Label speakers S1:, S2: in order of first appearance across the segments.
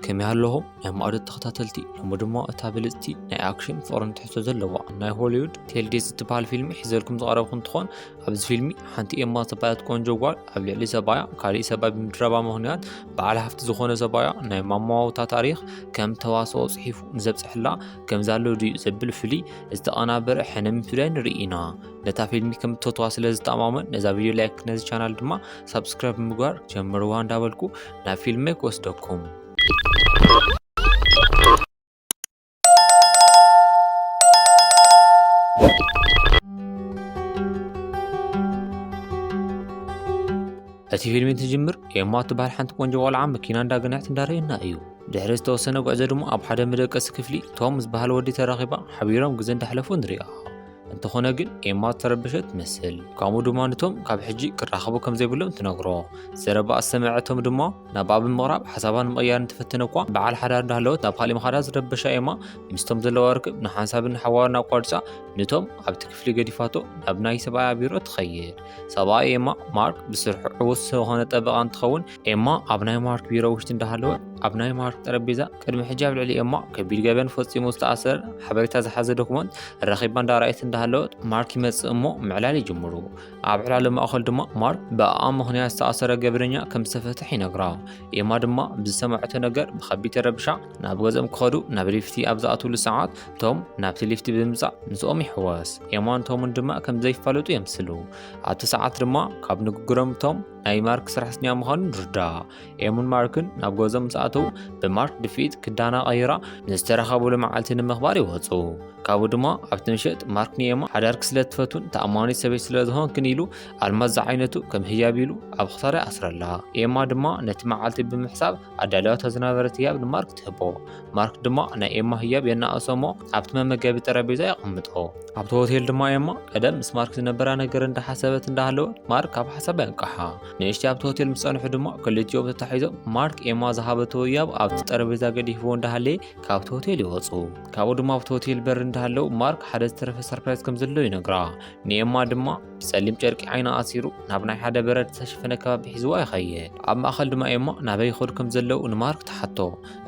S1: ከመይ ኣለኹም ናይ ማዕዶ ተኸታተልቲ ሎሚ ድማ እታ ብልፅቲ ናይ ኣክሽን ፍቕርን ትሕቶ ዘለዋ ናይ ሆሊውድ ቴልዴስ እትበሃል ፊልሚ ሒዘልኩም ዝቐረብኩ እንትኾን ኣብዚ ፊልሚ ሓንቲ ኤማ ዝተባሃለት ቆንጆ ጓል ኣብ ልዕሊ ሰባያ ካሊእ ሰባይ ብምድረባ ምክንያት በዓል ሃፍቲ ዝኾነ ሰባያ ናይ ማማዋውታ ታሪኽ ከም ተዋስኦ ፅሒፉ ንዘብፅሐላ ከምዛሎ ድዩ ዘብል ፍሉይ ዝተቐናበረ ሕነ ምፍዳይ ንርኢ ኢና ነታ ፊልሚ ከም እትፈትዋ ስለ ዝተማመን ነዛ ቪድዮ ላይክ ነዚ ቻናል ድማ ሳብስክራይብ ምግባር ጀምርዋ እንዳበልኩ ናብ ፊልመይ ክወስደኩም እቲ ፊልሚ እንትጅምር ኤማ እትበሃል ሓንቲ ቆንጆ ቆልዓ መኪና እንዳገነዕት እንዳርእየና እዩ ድሕሪ ዝተወሰነ ጉዕዞ ድማ ኣብ ሓደ መደቀሲ ክፍሊ ቶም ዝበሃል ወዲ ተራኺባ ሓቢሮም ግዜ እንዳሕለፉ ንሪኣ እንተኾነ ግን ኤማ እተረበሸት ትመስል ከምኡ ድማ ንቶም ካብ ሕጂ ክራኸቡ ከም ዘይብሎም ትነግሮ ዘረባኣ ዝሰመዐቶም ድማ ናብኣ ብምቕራብ ሓሳባ ንምቕያር እንተፈተነ እኳ በዓል ሓዳር እንዳሃለወት ናብ ካሊእ ምኻዳ ዝረበሻ ኤማ ምስቶም ዘለዋ ርክብ ንሓንሳብን ንሓዋርን ኣቋሪፃ ንቶም ኣብቲ ክፍሊ ገዲፋቶ ናብ ናይ ሰብኣያ ቢሮ ትኸይድ ሰብኣይ ኤማ ማርክ ብስርሑ ዕውት ዝኾነ ጠበቓ እንትኸውን ኤማ ኣብ ናይ ማርክ ቢሮ ውሽጢ እንዳሃለወት ኣብ ናይ ማርክ ጠረጴዛ ቅድሚ ሕጂ ኣብ ልዕሊ ኤማ ከቢድ ገበን ፈጺሙ ዝተኣሰረ ሓበሬታ ዝሓዘ ዶክመንት ረኺባ እንዳረኣየት እንዳሃለወት ማርክ ይመጽእ እሞ ምዕላል ይጅምሩ። ኣብ ዕላሉ ማእኸል ድማ ማርክ ብኣኣ ምኽንያት ዝተኣሰረ ገበነኛ ከም ዝተፈትሕ ይነግራ። ኤማ ድማ ብዝሰማዐቶ ነገር ብከቢድ ተረብሻ ናብ ገዝኦም ክኸዱ ናብ ሊፍቲ ኣብ ዝኣትውሉ ሰዓት ቶም ናብቲ ሊፍቲ ብምምጻእ ምስኦም ይሕወስ። ኤማን ቶምን ድማ ከም ዘይፋለጡ የምስሉ። ኣብቲ ሰዓት ድማ ካብ ንግግሮም ቶም ናይ ማርክ ስራሕተኛ ምዃኑ ንርዳእ። ኤሙን ማርክን ናብ ገዞም ምስ ኣተዉ ብማርክ ድፍኢት ክዳና ቀይራ ንዝተረኸብሉ መዓልቲ ንምኽባር ይወፁ ካብኡ ድማ ኣብቲ ምሸጥ ማርክ ንኤማ ሓዳርክ ስለ ትፈቱን ተኣማኒት ሰበይት ስለ ዝኾንክን ኢሉ ኣልማዝ ዝዓይነቱ ከም ህያብ ኢሉ ኣብ ክሳዳ ይኣስረላ ኤማ ድማ ነቲ መዓልቲ ብምሕሳብ ኣዳልያቶ ዝነበረት ህያብ ንማርክ ትህቦ ማርክ ድማ ናይ ኤማ ህያብ የናእሶ እሞ ኣብቲ መመገቢ ጠረጴዛ የቐምጦ ኣብቲ ሆቴል ድማ ኤማ ቀደም ምስ ማርክ ዝነበራ ነገር እንዳሓሰበት እንዳሃለወት ማርክ ኣብ ሓሳባ የንቀሓ ንእሽቲ ኣብቲ ሆቴል ምስ ጸንሑ ድማ ክልቲኦም ተታሒዞም ማርክ ኤማ ዝሃበቶ ህያብ ኣብቲ ጠረጴዛ ገዲፍዎ እንዳሃለየ ካብቲ ሆቴል ይወጹ። ካብኡ ድማ ኣብቲ ሆቴል በር እንዳሃለው ማርክ ሓደ ዝተረፈ ሰርፕራይዝ ከም ዘሎ ይነግራ። ንኤማ ድማ ብጸሊም ጨርቂ ዓይና ኣሲሩ ናብ ናይ ሓደ በረድ ዝተሸፈነ ከባቢ ሒዝዋ ይኸይድ። ኣብ ማእከል ድማ ኤማ ናበይ ይኸዱ ከም ዘለው ንማርክ ትሓቶ።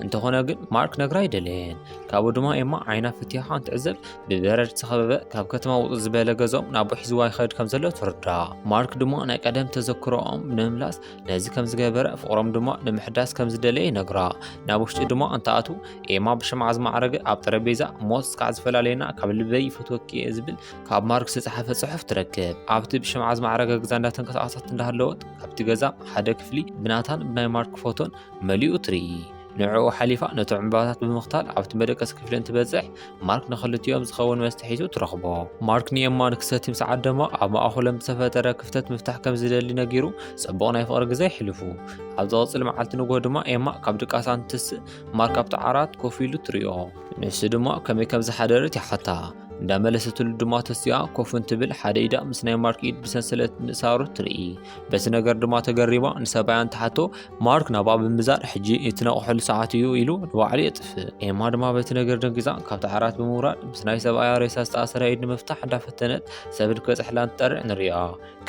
S1: እንተኾነ ግን ማርክ ነግራ ኣይደለየን። ካብኡ ድማ ኤማ ዓይና ፍትያኻ እንትዕዘብ ብበረድ ዝተኸበበ ካብ ከተማ ውፅእ ዝበለ ገዝኦም ናብኡ ሒዝዋ ይኸድ ከም ዘሎ ትርዳ ማርክ ድማ ናይ ቀደም ተዘክሮኦም ንምምላስ ነዚ ከም ዝገበረ ፍቕሮም ድማ ንምሕዳስ ከም ዝደለየ ይነግራ ናብ ውሽጢ ድማ እንተኣቱ ኤማ ብሽምዓ ዝማዕረገ ኣብ ጠረጴዛ ሞት እስካዕ ዝፈላለየና ካብ ልበይ ይፈትወኪ እየ ዝብል ካብ ማርክ ዝተፅሓፈ ፅሑፍ ትረክብ ኣብቲ ብሽምዓ ዝማዕረገ ገዛ እንዳተንቀሳቐሰት እንዳሃለወት ካብቲ ገዛ ሓደ ክፍሊ ብናታን ብናይ ማርክ ፎቶን መሊኡ ትርኢ ንዕኡ ሓሊፋ ነቶም ዕምባባታት ብምኽታል ኣብቲ መደቀሲ ክፍሊ እንትበጽሕ ማርክ ንኽልቲኦም ዝኸውን መስተ ሒዙ ትረኽቦ። ማርክ ንኤማ ንክሰቲ ምስ ዓደሞ ኣብ ማእኸሎም ዝተፈጠረ ክፍተት ምፍታሕ ከም ዝደሊ ነጊሩ ጽቡቕ ናይ ፍቕሪ ግዜ ይሕልፉ። ኣብ ዝቕጽል መዓልቲ ንግሆ ድማ ኤማ ካብ ድቃሳ እንትትስእ ማርክ ኣብቲ ዓራት ኮፍ ኢሉ ትሪኦ። ንሱ ድማ ከመይ ከም ዝሓደረት ይሓታ። እንዳመለሰትሉ ድማ ተሲኣ ኮፍ እንትብል ሓደ ኢዳ ምስ ናይ ማርክ ኢድ ብሰንሰለት ምእሳሩ ትርኢ። በቲ ነገር ድማ ተገሪማ ንሰብኣያን ትሓቶ ማርክ ናብኣ ብምዛር ሕጂ እትነቕሐሉ ሰዓት እዩ ኢሉ ንባዕሉ የጥፍእ ኤማ ድማ በቲ ነገር ደንጊዛ ካብቲ ዓራት ብምውራድ ምስ ናይ ሰብኣያ ሬሳ ዝተኣሰረ ኢድ ንምፍታሕ እንዳፈተነት ሰብን ክበፅሕላን ትጠርዕ ንሪኣ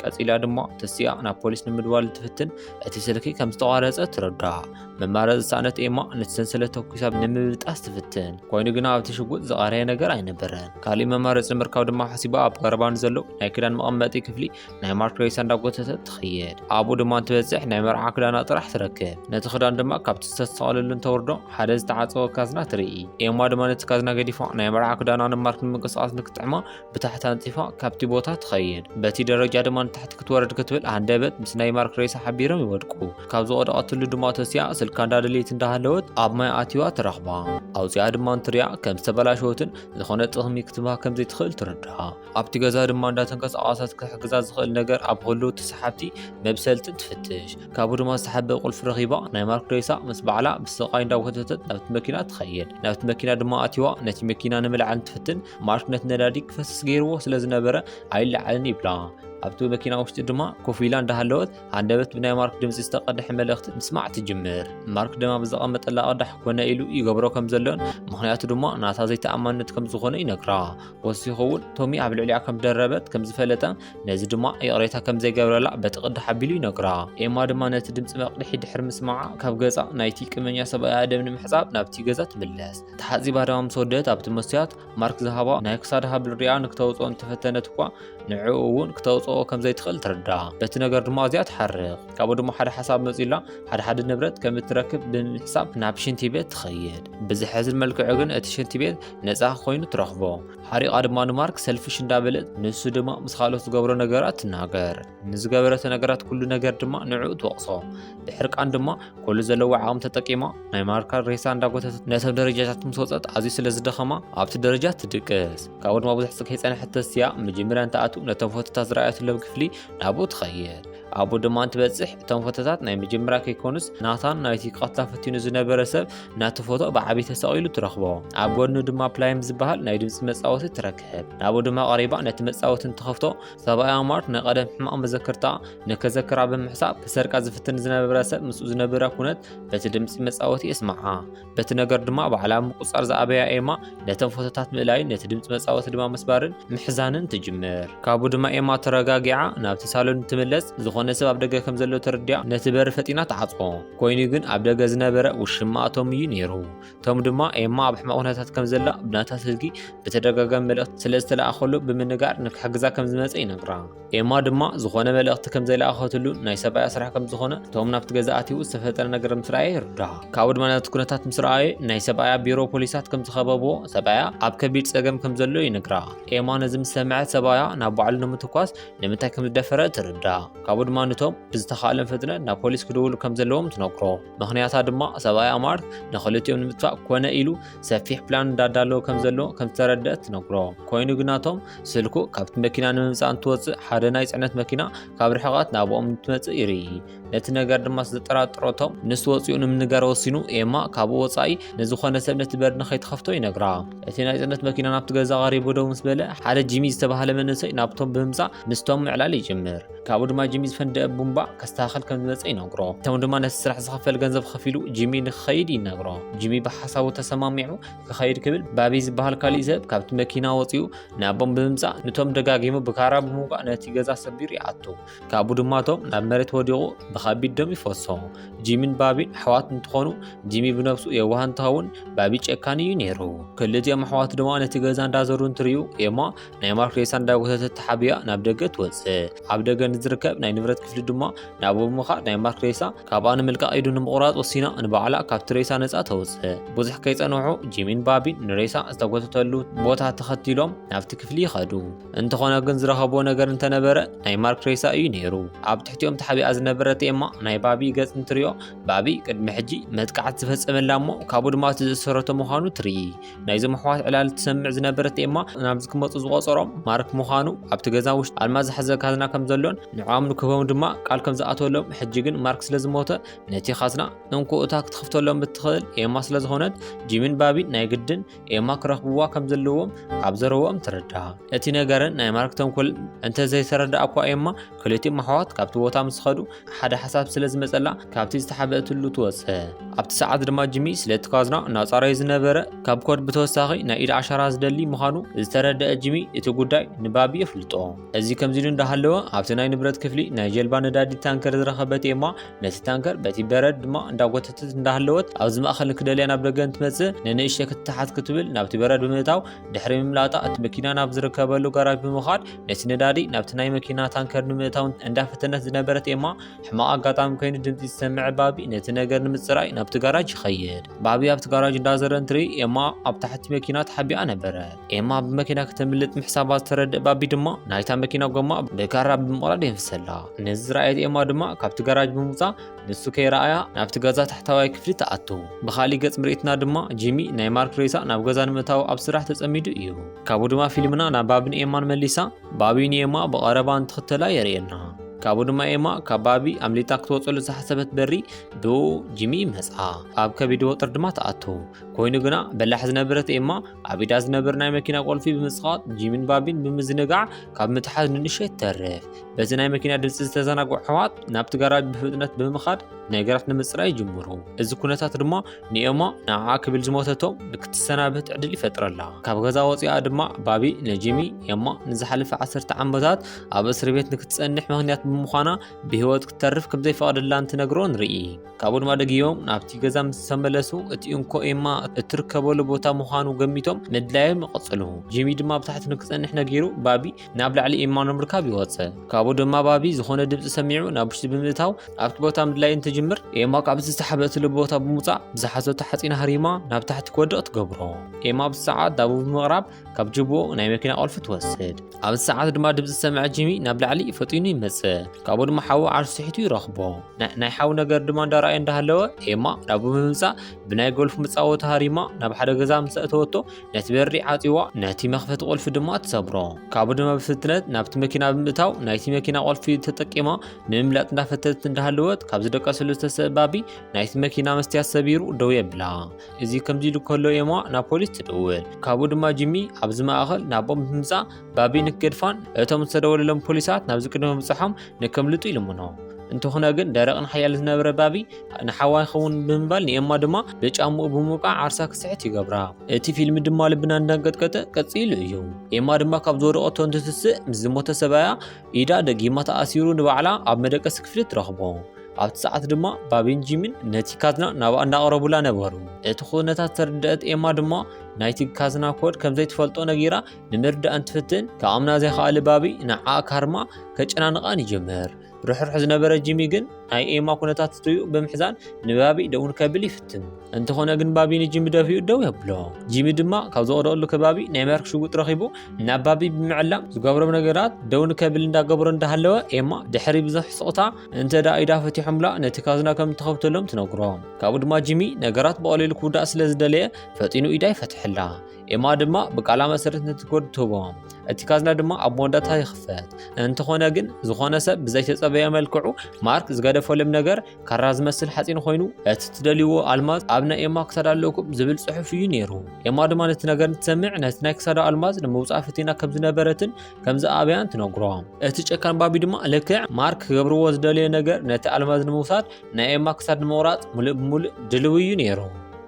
S1: ቀፂላ ድማ ተሲኣ ናብ ፖሊስ ንምድዋል እንትፍትን እቲ ስልኪ ከም ዝተቋረፀ ትረዳእ መማረ ዝሰኣነት ኤማ ነቲ ሰንሰለት ተኩሳ ንምብጣስ ትፍትን ኮይኑ ግና ኣብቲ ሽጉጥ ዝቐረየ ነገር ኣይነበረን ካሊእ መማረፂ ምርካብ ድማ ሓሲባ ኣብ ቀረባ ንዘሎ ናይ ክዳን መቐመጢ ክፍሊ ናይ ማርክ ሬሳ እንዳጎተተት ትኸየድ ኣብኡ ድማ እንትበፅሕ ናይ መርዓ ክዳና ጥራሕ ትረክብ ነቲ ክዳን ድማ ካብቲ ዝተሰቐለሉ እንተውርዶ ሓደ ዝተዓፀወ ካዝና ትርኢ ኤማ ድማ ነቲ ካዝና ገዲፋ ናይ መርዓ ክዳና ንማርክ ንምንቅስቓስ ንክጥዕማ ብታሕቲ ኣንፂፋ ካብቲ ቦታ ትኸየድ በቲ ደረጃ ድማ ንታሕቲ ክትወርድ ክትብል ሃንደበት ምስ ናይ ማርክ ሬሳ ሓቢሮም ይወድቁ ካብ ዝወደቐትሉ ድማ ተሲኣ ስልካ እንዳደለየት እንዳሃለወት ኣብ ማይ ኣትዋ ትረኽባ ኣውፂኣ ድማ እንትሪኣ ከም ዝተበላሸወትን ዝኾነ ጥቕሚ ክትባ ከም ዘይትኽእል ትርዳኣ ኣብቲ ገዛ ድማ እንዳተንቀሳቐሰት ክሕግዛ ዝኽእል ነገር ኣብ ህልው እቲ ሰሓብቲ መብሰልትን ትፍትሽ። ካብኡ ድማ ዝተሓበ ቁልፊ ረኺባ ናይ ማርክ ሬሳ ምስ በዓላ ብስቓይ እንዳጎተተት ናብቲ መኪና ትኸይድ። ናብቲ መኪና ድማ ኣትይዋ ነቲ መኪና ንምልዓል እንትፍትን ማርክ ነቲ ነዳዲ ክፈስስ ገይርዎ ስለ ዝነበረ ኣይለዓልን ይብላ። ኣብቲ መኪና ውሽጢ ድማ ኮፍ ኢላ እንዳሃለወት ሃንደበት ብናይ ማርክ ድምፂ ዝተቐድሐ መልእኽቲ ምስማዕ ትጅምር። ማርክ ድማ ብዝቐመጠላ ቅዳሕ ኮነ ኢሉ ይገብሮ ከም ዘሎን ምኽንያቱ ድማ ናታ ዘይተኣማንነት ከም ዝኾነ ይነግራ። ወሲኹ እውን ቶሚ ኣብ ልዕሊኣ ከም ደረበት ከም ዝፈለጠ ነዚ ድማ ይቕሬታ ከም ዘይገብረላ በቲ ቅዲ ሓቢሉ ይነግራ ኤማ ድማ ነቲ ድምፂ መቕድሒ ድሕሪ ምስማዓ ካብ ገፃ ናይቲ ቅመኛ ሰብኣያ ደም ንምሕፃብ ናብቲ ገዛ ትምለስ ተሓፂባ ድማ ምስ ወደት ኣብቲ መስትያት ማርክ ዝሃባ ናይ ክሳድ ሃብል ሪኣ ንክተውፅኦ እንተፈተነት እኳ ንዕኡ እውን ክተውፅኦ ከም ዘይትኽእል ትርዳእ በቲ ነገር ድማ ኣዝያ ትሓርቕ ካብኡ ድማ ሓደ ሓሳብ መፂላ ሓደ ሓደ ንብረት ከም እትረክብ ብምሕሳብ ናብ ሽንቲ ቤት ትኸይድ ብዝሐዝን መልክዑ ግን እቲ ሽንቲ ቤት ነጻ ኮይኑ ትረኽቦ። ሓሪቓ ድማ ንማርክ ሰልፊሽ እንዳበለት ንሱ ድማ ምስ ካልኦት ዝገብሮ ነገራት ትናገር። ንዝገበረቶ ነገራት ኩሉ ነገር ድማ ንዕኡ ትወቕሶ። ብሕርቃን ድማ ኩሉ ዘለዎ ዓቕሚ ተጠቂማ ናይ ማርካ ሬሳ እንዳጎተተት ነቶም ደረጃታት ምስ ወጸት ኣዝዩ ስለ ዝደኸማ ኣብቲ ደረጃ ትድቅስ። ካብኡ ድማ ብዙሕ ጽግ ከይጸንሐት ተሲኣ መጀመርያ እንትኣቱ ነቶም ፎቶታት ዝረኣየትሎም ክፍሊ ናብኡ ትኸይድ። ኣብኡ ድማ እንትበጽሕ እቶም ፎቶታት ናይ መጀመርያ ከይኮኑስ ናታን ናይቲ ክቐትላ ፈቲኑ ዝነበረ ሰብ ናቲ ፎቶ ብዓቢ ተሰቒሉ ትረኽቦ ኣብ ጎድኑ ድማ ፕላይም ዝበሃል ናይ ድምፂ መጻወቲ ትረክብ ናብኡ ድማ ቀሪባ ነቲ መጻወቲ እንትኸፍቶ ሰብኣያ ማርት ናይ ቀደም ሕማቕ መዘክርታ ንከዘክራ ብምሕሳብ ክሰርቃ ዝፍትን ዝነበረ ሰብ ምስኡ ዝነበረ ኩነት በቲ ድምፂ መጻወቲ የስምዓ በቲ ነገር ድማ ባዕላ ምቁፅፃር ዝኣበያ ኤማ ነተን ፎቶታት ምእላይን ነቲ ድምፂ መፃወቲ ድማ ምስባርን ምሕዛንን ትጅምር ካብኡ ድማ ኤማ ተረጋጊዓ ናብቲ ሳሎን ትምለስ ዝኾነ ሰብ ኣብ ደገ ከም ዘሎ ተረዲያ ነቲ በሪ ፈጢና ትዓፅኦ ኮይኑ ግን ኣብ ደገ ዝነበረ ውሽማ ቶም እዩ ነይሩ ቶም ድማ ኤማ ኣብ ሕማቕ ኩነታት ከም ዘላ ብናታ ስልኪ ብተደጋጋሚ መልእኽቲ ስለ ዝተለኣኸሉ ብምንጋር ንክሕግዛ ከም ዝመፀ ይነግራ ኤማ ድማ ዝኾነ መልእኽቲ ከም ዘይለኣኸትሉን ናይ ሰብኣያ ስራሕ ከም ዝኾነ እቶም ናብቲ ገዛ ኣትዩ ዝተፈጠረ ነገር ምስ ረኣየ ይርዳእ። ካብኡ ድማ ነቲ ኩነታት ምስ ረኣየ ናይ ሰብኣያ ቢሮ ፖሊሳት ከም ዝኸበብዎ ሰብኣያ ኣብ ከቢድ ጸገም ከም ዘሎ ይነግራ። ኤማ ነዚ ምስ ሰምዐት ሰብኣያ ናብ ባዕሉ ንምትኳስ ንምንታይ ከም ዝደፈረ ትርዳእ። ካብኡ ድማ ንቶም ብዝተኻእሎም ፍጥነት ናብ ፖሊስ ክድውሉ ከም ዘለዎም ትነግሮ። ምክንያታ ድማ ሰብኣይ ኣማር ንክልቲኦም ንምጥፋእ ኮነ ኢሉ ሰፊሕ ፕላን እንዳዳለወ ከም ዘሎ ከም ዝተረደእ ትነግሮ ኮይኑ ግናቶም ስልኩ ካብቲ መኪና ንምምፃእ እንትወፅእ ሓደ ናይ ፅዕነት መኪና ካብ ርሕቐት ናብኦም እንትመፅእ ይርኢ ነቲ ነገር ድማ ስለዘጠራጥሮቶም ንሱ ወፂኡ ንምንጋር ወሲኑ ኤማ ካብኡ ወፃኢ ንዝኾነ ሰብ ነቲ በር ንኸይትኸፍቶ ይነግራ እቲ ናይ ፅዕነት መኪና ናብቲ ገዛ ቀሪቡ ደው ምስ በለ ሓደ ጂሚ ዝተባሃለ መንእሰይ ናብቶም ብምምፃእ ምስቶም ምዕላል ይጅምር ካብኡ ድማ ጂሚ ዝፈንደአ ቡምባ ከስተኻኸል ከም ዝመፀ ይነግሮ ቶም ድማ ነቲ ስራሕ ዝኸፈል ገንዘብ ኸፊሉ ጂሚ ንክኸይድ ይነግሮ ጂሚ ብሓሳቡ ተሰማሚዑ ክኸይድ ክብል ባቢ ዝበሃል ካሊእ ሰብ ካብቲ መኪና ወፂኡ ንኣቦም ብምምፃእ ንቶም ደጋጊሙ ብካራ ብምውጋእ ነቲ ገዛ ሰቢሩ ይኣቱ ካብኡ ድማ ቶም ናብ መሬት ወዲቑ ብከቢድ ደም ይፈሶ ጂሚን ባቢን ኣሕዋት እንትኾኑ ጂሚ ብነብሱ የዋህ እንትኸውን ባቢ ጨካን እዩ ነይሩ ክልቲኦም ኣሕዋት ድማ ነቲ ገዛ እንዳዘሩ እንትርዩ ኤማ ናይ ማርክ ሬሳ እንዳጎተተት ተሓቢኣ ናብ ደገ ትወጽእ። ኣብ ደገ ንዝርከብ ናይ ንብረት ክፍሊ ድማ ናብኡ ብምኻድ ናይ ማርክ ሬሳ ካብኣ ንምልቃቕ ኢዱ ንምቑራጽ ወሲና ንባዕላ ካብቲ ሬሳ ነጻ ተውጽእ። ብዙሕ ከይጸንሑ ጂሚን ባቢን ንሬሳ ዝተጎተተሉ ቦታ ተኸቲሎም ናብቲ ክፍሊ ይኸዱ። እንተኾነ ግን ዝረኸብዎ ነገር እንተነበረ ናይ ማርክ ሬሳ እዩ ነይሩ። ኣብ ትሕቲኦም ተሓቢኣ ዝነበረት ኤማ ናይ ባቢ ገጽ እንትሪኦ ባቢ ቅድሚ ሕጂ መጥቃዕቲ ዝፈጸመላ እሞ ካብኡ ድማ እቲ ዘእሰረቶ ምዃኑ ትርኢ። ናይዞም ኣሕዋት ዕላል ትሰምዕ ዝነበረት ኤማ ናብዚ ክመፁ ዝቆፀሮም ማርክ ምዃኑ ኣብቲ ገዛ ውሽጢ ኣልማዝ ዝሓዘ ካዝና ከም ዘሎን ንዕኦም ንክህቦም ድማ ቃል ከም ዝኣተወሎም ሕጂ ግን ማርክ ስለ ዝሞተ ነቲ ካዝና እንኮ እታ ክትኽፍተሎም እትኽእል ኤማ ስለ ዝኾነት ጂሚን ባቢን ናይ ግድን ኤማ ክረኽብዋ ከም ዘለዎም ካብ ዘረብኦም ትርዳእ እቲ ነገርን ናይ ማርክ ተንኮል እንተዘይተረድኣ እኳ ኤማ ክልቲኦም ኣሕዋት ካብቲ ቦታ ምስ ኸዱ ሓደ ሓሳብ ስለ ዝመጸላ ካብቲ ዝተሓበእትሉ ትወጽ ኣብቲ ሰዓት ድማ ጅሚ ስለቲ ካዝና እናጻረዩ ዝነበረ ካብ ኮድ ብተወሳኺ ናይ ኢድ ኣሻራ ዝደሊ ምዃኑ ዝተረደአ ጅሚ እቲ ጉዳይ ንባቢ የፍልጦ እዚ ከምዚ ኢሉ እንዳሃለወ ኣብቲ ናይ ንብረት ክፍሊ ናይ ጀልባ ነዳዲ ታንከር ዝረኸበት ኤማ ነቲ ታንከር በቲ በረድ ድማ እንዳጎተተት እንዳሃለወት ኣብዚ ማእኸል ክደልያ ናብ ደገ እንትመጽእ ንንእሽተ ክትተሓት ክትብል ናብቲ በረድ ብምእታው ድሕሪ ምምላጣ እቲ መኪና ናብ ዝርከበሉ ጋራጅ ብምኻድ ነቲ ነዳዲ ናብቲ ናይ መኪና ታንከር ንምእታውን እንዳፈተነት ዝነበረት ኤማ ሕማቕ ኣጋጣሚ ኮይኑ ድምፂ ዝሰምዐ ባቢ ነቲ ነገር ንምፅራይ ናብቲ ጋራጅ ይኸይድ ባቢ ኣብቲ ጋራጅ እንዳዘረ እንትርኢ ኤማ ኣብ ታሕቲ መኪና ተሓቢኣ ነበረ ኤማ ብመኪና ከተምልጥ ምሕሳባ ዝተረድእ ባቢ ድማ ናይታ መኪና ጎማ ብካራ ብምቕራድ የንፍሰላ ነዚ ዝረኣየት ኤማ ድማ ካብቲ ጋራጅ ብምውፃእ ንሱ ከይረኣያ ናብቲ ገዛ ታሕታዋይ ክፍሊ ተኣተዉ። ብኻሊእ ገጽ ምርኢትና ድማ ጂሚ ናይ ማርክ ሬሳ ናብ ገዛ ንምእታዉ ኣብ ስራሕ ተጸሚዱ እዩ። ካብኡ ድማ ፊልምና ናብ ባቢን ኤማን መሊሳ፣ ባቢ ንኤማ ብቐረባ እንትኽተላ የርእየና። ካብኡ ድማ ኤማ ካብ ባቢ ኣምሊጣ ክትወጸሉ ዝሓሰበት በሪ ብእኡ ጂሚ ይመጽኣ። ኣብ ከቢድ ወጥሪ ድማ ተኣተዉ። ኮይኑ ግና በላሕ ዝነበረት ኤማ ኣብ ኢዳ ዝነበር ናይ መኪና ቁልፊ ብምጽቓጥ ጂሚን ባቢን ብምዝንጋዕ ካብ ምትሓዝ ንንእሽተይ ትተርፍ። በዚ ናይ መኪና ድምፂ ዝተዘናግዑ ኣሕዋት ናብቲ ጋራጅ ብፍጥነት ብምኻድ ነገራት ንምፅራይ ይጅምሩ እዚ ኩነታት ድማ ንኤማ ንዓዓ ክብል ዝሞተቶም ንክትሰናብት ዕድል ይፈጥረላ ካብ ገዛ ወፂኣ ድማ ባቢ ነጂሚ ኤማ ንዝሓለፈ ዓሰርተ ዓመታት ኣብ እስሪ ቤት ንክትፀንሕ ምክንያት ብምዃና ብህይወት ክተርፍ ከም ዘይፈቐደላ እንትነግሮ ንርኢ ካብኡ ድማ ደጊዮም ናብቲ ገዛ ምስ ተመለሱ እቲ እንኮ ኤማ እትርከበሉ ቦታ ምዃኑ ገሚቶም ምድላዮም ይቐፅሉ ጂሚ ድማ ብታሕቲ ንክፀንሕ ነጊሩ ባቢ ናብ ላዕሊ ኤማ ንምርካብ ይወፀ ካብኡ ድማ ባቢ ዝኾነ ድምፂ ሰሚዑ ናብ ውሽጢ ብምእታው ኣብቲ ቦታ ምድላይ እንትጅምር ኤማ ካብቲ ዝተሓበእትሉ ቦታ ብምውፃእ ብዝሓዘቶ ሓፂን ሃሪማ ናብ ታሕቲ ክወድቕ ትገብሮ ኤማ ኣብዚ ሰዓት ዳቡ ብምቕራብ ካብ ጅብኡ ናይ መኪና ቁልፊ ትወስድ ኣብዚ ሰዓት ድማ ድምፂ ዝሰምዐ ጂሚ ናብ ላዕሊ ፈጢኑ ይመፅእ ካብኡ ድማ ሓዊ ዓርሱ ስሒቱ ይረኽቦ ናይ ሓዊ ነገር ድማ እንዳረኣየ እንዳሃለወ ኤማ ናብኡ ብምምፃእ ብናይ ጎልፍ መፃወቲ ሃሪማ ናብ ሓደ ገዛ ምስ ኣእተወቶ ነቲ በሪ ዓጽዋ ነቲ መኽፈቲ ቁልፊ ድማ ትሰብሮ ካብኡ ድማ ብፍጥነት ናብቲ መኪና ብምእታው ናይቲ መኪና ቁልፊ ተጠቂማ ንምምላጥ እንዳፈተት እንዳሃለወት ካብ ዝደቀስሉ ዝተሰባቢ ናይቲ መኪና መስትያት ሰቢሩ ደው የብላ እዚ ከምዚ ኢሉ ከሎ ኤማ ናብ ፖሊስ ትድውል ካብኡ ድማ ጂሚ ኣብዚ ማእኸል ናቦም ብምምፃእ ባቢ ንክገድፋን እቶም ዝተደወለሎም ፖሊሳት ናብዚ ቅድሚ ምብፅሖም ንከምልጡ ይልምኖ እንተኾነ ግን ደረቕን ሓያል ዝነበረ ባቢ ንሓዋ ይኸውን ብምባል ንኤማ ድማ ብጫምኡ ብምውቃዕ ዓርሳ ክስሕት ይገብራ። እቲ ፊልም ድማ ልብና እንዳንቀጥቀጠ ቀጺሉ እዩ። ኤማ ድማ ካብ ዝወደቐቶ እንትትስእ ምስ ዝሞተ ሰብኣያ ኢዳ ደጊማ ተኣሲሩ ንባዕላ ኣብ መደቀሲ ክፍሊ ትረኽቦ። ኣብቲ ሰዓት ድማ ባቢን ጂሚን ነቲ ካዝና ናብኣ እንዳቐረቡላ ነበሩ። እቲ ኩነታት ዝተረደኣት ኤማ ድማ ናይቲ ካዝና ኮድ ከምዘይትፈልጦ ነጊራ ንምርዳእ እንትፍትን ክኣምና ዘይኸኣለ ባቢ ንዓኣ ካርማ ከጨናንቓን ይጅምር። ርሕሩሕ ዝነበረ ጂሚ ግን ናይ ኤማ ኩነታት ትሪኡ ብምሕዛን ንባቢ ደውን ከብል ይፍትን። እንተኾነ ግን ባቢ ንጂሚ ደፊኡ ደው የብሎ። ጂሚ ድማ ካብ ዝወደቐሉ ከባቢ ናይ መርክ ሽጉጥ ረኺቡ ናብ ባቢ ብምዕላም ዝገብሮም ነገራት ደው ንከብል እንዳገበሮ እንዳሃለወ ኤማ ድሕሪ ብዙሕ ስቕታ እንተ ደኣ ኢዳ ፈቲሖምላ ነቲ ካዝና ከም እትኸፍተሎም ትነግሮ። ካብኡ ድማ ጂሚ ነገራት ብቐሊሉ ክውዳእ ስለ ዝደለየ ፈጢኑ ኢዳ ይፈትሐላ። ኤማ ድማ ብቃላ መሰረት ነቲ ኮድ ትህቦ እቲ ካዝና ድማ ኣብ መወዳእታ ይኽፈት እንተኾነ ግን ዝኾነ ሰብ ብዘይተጸበየ መልክዑ ማርክ ዝገደፈሎም ነገር ካራ ዝመስል ሓፂን ኮይኑ እቲ ትደልይዎ ኣልማዝ ኣብ ናይ ኤማ ክሳዳ ኣለኩም ዝብል ጽሑፍ እዩ ነይሩ ኤማ ድማ ነቲ ነገር እንትሰምዕ ነቲ ናይ ክሳዳ ኣልማዝ ንምውፃእ ፍቲና ከም ዝነበረትን ከም ዝኣበያን ትነግሮ እቲ ጨካን ባቢ ድማ ልክዕ ማርክ ክገብርዎ ዝደለየ ነገር ነቲ ኣልማዝ ንምውሳድ ናይ ኤማ ክሳድ ንምቑራጽ ምሉእ ብምሉእ ድልው እዩ ነይሩ።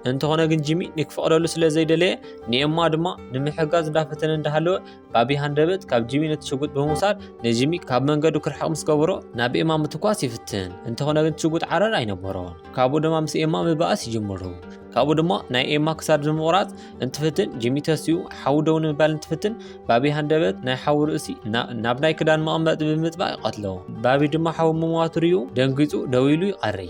S1: እንተኾነ ግን ጂሚ ንክፈቕደሉ ስለ ዘይደለየ ንኤማ ድማ ንምሕጋዝ እንዳፈተነ እንዳሃለወ ባቢ ሃንደበት ካብ ጂሚ ነቲ ሽጉጥ ብምውሳድ ንጂሚ ካብ መንገዱ ክርሕቕ ምስ ገበሮ ናብ ኤማ ምትኳስ ይፍትን። እንተኾነ ግን ሽጉጥ ዓረር ኣይነበሮን። ካብኡ ድማ ምስ ኤማ ምባኣስ ይጅምሩ። ካብኡ ድማ ናይ ኤማ ክሳድ ንምቑራፅ እንትፍትን ጂሚ ተሲኡ ሓዊ ደው ንምባል እንትፍትን ባቢ ሃንደበት ናይ ሓዊ ርእሲ ናብ ናይ ክዳን መቐመጢ ብምጥባቕ ይቐትሎ ባቢ ድማ ሓዊ ምሟቱ ርዩ ደንጊፁ ደው ኢሉ ይቐሪ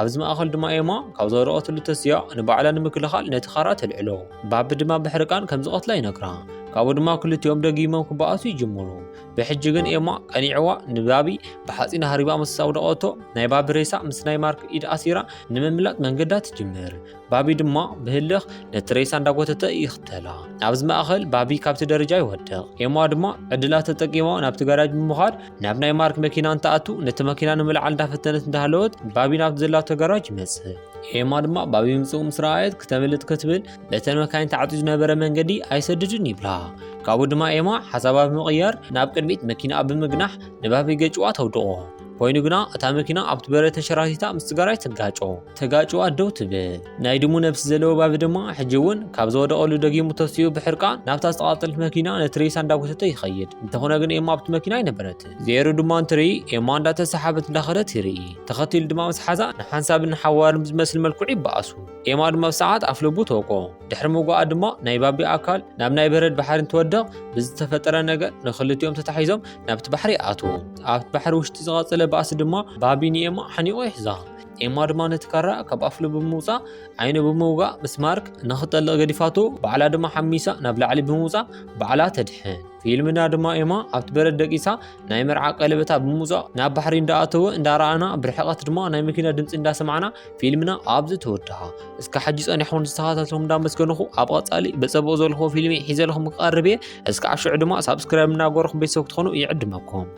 S1: ኣብዚ ማእኸል ድማ ኤማ ካብ ዝወደቐትሉ ተስያ ንባዕላ ንምክልኻል ነቲ ካራ ተልዕሎ ባቢ ድማ ብሕርቃን ከም ዝቐትላ ይነግራ ካብኡ ድማ ክልቲኦም ደጊሞም ክበኣሱ ይጅምሩ ብሕጂ ግን ኤማ ቀኒዕዋ ንባቢ ብሓጺን ሃሪባ ምስ ኣውደቐቶ ናይ ባቢ ሬሳ ምስ ናይ ማርክ ኢድ ኣሲራ ንምምላጥ መንገዳ ትጅምር። ባቢ ድማ ብህልኽ ነቲ ሬሳ እንዳጎተተ ይኽተላ። ኣብዚ ማእኸል ባቢ ካብቲ ደረጃ ይወድቕ። ኤማ ድማ ዕድላ ተጠቂማ ናብቲ ጋራጅ ብምዃድ ናብ ናይ ማርክ መኪና እንትኣቱ ነቲ መኪና ንምልዓል እንዳፈተነት እንዳሃለወት ባቢ ናብቲ ዘላቶ ጋራጅ ይመጽእ። ኤማ ድማ ባቢ ምምጽኡ ምስ ረኣየት ክተምልጥ ክትብል እተን መካይን ተዓፅዩ ዝነበረ መንገዲ ኣይሰድድን ይብላ ካብኡ ድማ ኤማ ሓሳባ ብምቕያር ናብ ቅድሚት መኪናኣ ብምግናሕ ንባበይ ገጭዋ ተውድቖ ኮይኑ ግና እታ መኪና ኣብቲ በረ ተንሸራቲታ ምስ ስጋራይ ትጋጮ ተጋጭዋ ደው ትብል ናይ ድሙ ነብሲ ዘለዎ ባቢ ድማ ሕጂ እውን ካብ ዝወደቐሉ ደጊሙ ተሲኡ ብሕርቃ ናብታ ዝተቓፀለት መኪና ነቲ ሬሳ እንዳጎተተ ይኸይድ እንተኾነ ግን ኤማ ኣብቲ መኪና ኣይነበረት ዜሩ ድማ እንትርኢ ኤማ እንዳተሰሓበት እንዳኸደት ይርኢ ተኸቲሉ ድማ ምስ ሓዛ ንሓንሳብን ንሓዋርን ብዝመስል መልክዑ ይበኣሱ ኤማ ድማ ብሰዓት ኣፍ ልቡ ተወቅኦ። ድሕሪ ምውጋኣ ድማ ናይ ባቢ ኣካል ናብ ናይ በረድ ባሕሪ እንትወድቕ ብዝተፈጠረ ነገር ንክልቲኦም ተታሒዞም ናብቲ ባሕሪ ይኣትዉ። ኣብቲ ባሕሪ ውሽጢ ዝቐጸለ ባእሲ ድማ ባቢ ንኤማ ሓኒቑ ይሕዛ። ኤማ ድማ ነቲ ካራ ካብ ኣፍ ልቡ ብምውጻእ ዓይኑ ብምውጋእ ምስ ማርክ ንክጠልቕ ገዲፋቱ ባዕላ ድማ ሓሚሳ ናብ ላዕሊ ብምውጻእ ባዕላ ተድሕን። ፊልምና ድማ ኤማ ኣብቲ በረድ ደቂሳ ናይ መርዓ ቀለበታ ብምውጻእ ናብ ባሕሪ እንዳኣተወ እንዳረኣና ብርሕቐት ድማ ናይ መኪና ድምፂ እንዳሰማዕና ፊልምና ኣብዚ ተወድሃ እስከ ሕጂ ጸኒሕኩም ዝተኸታተልኩም እንዳመስገንኹ ኣብ ቐጻሊ ብጸቡቕ ዘልክዎ ፊልሚ ሒዘልኩም ክቐርብ እየ እስከ ኣሽዑ ድማ ሳብስክራይብ እናገበርኩም ቤተሰብ ክትኾኑ ይዕድመኩም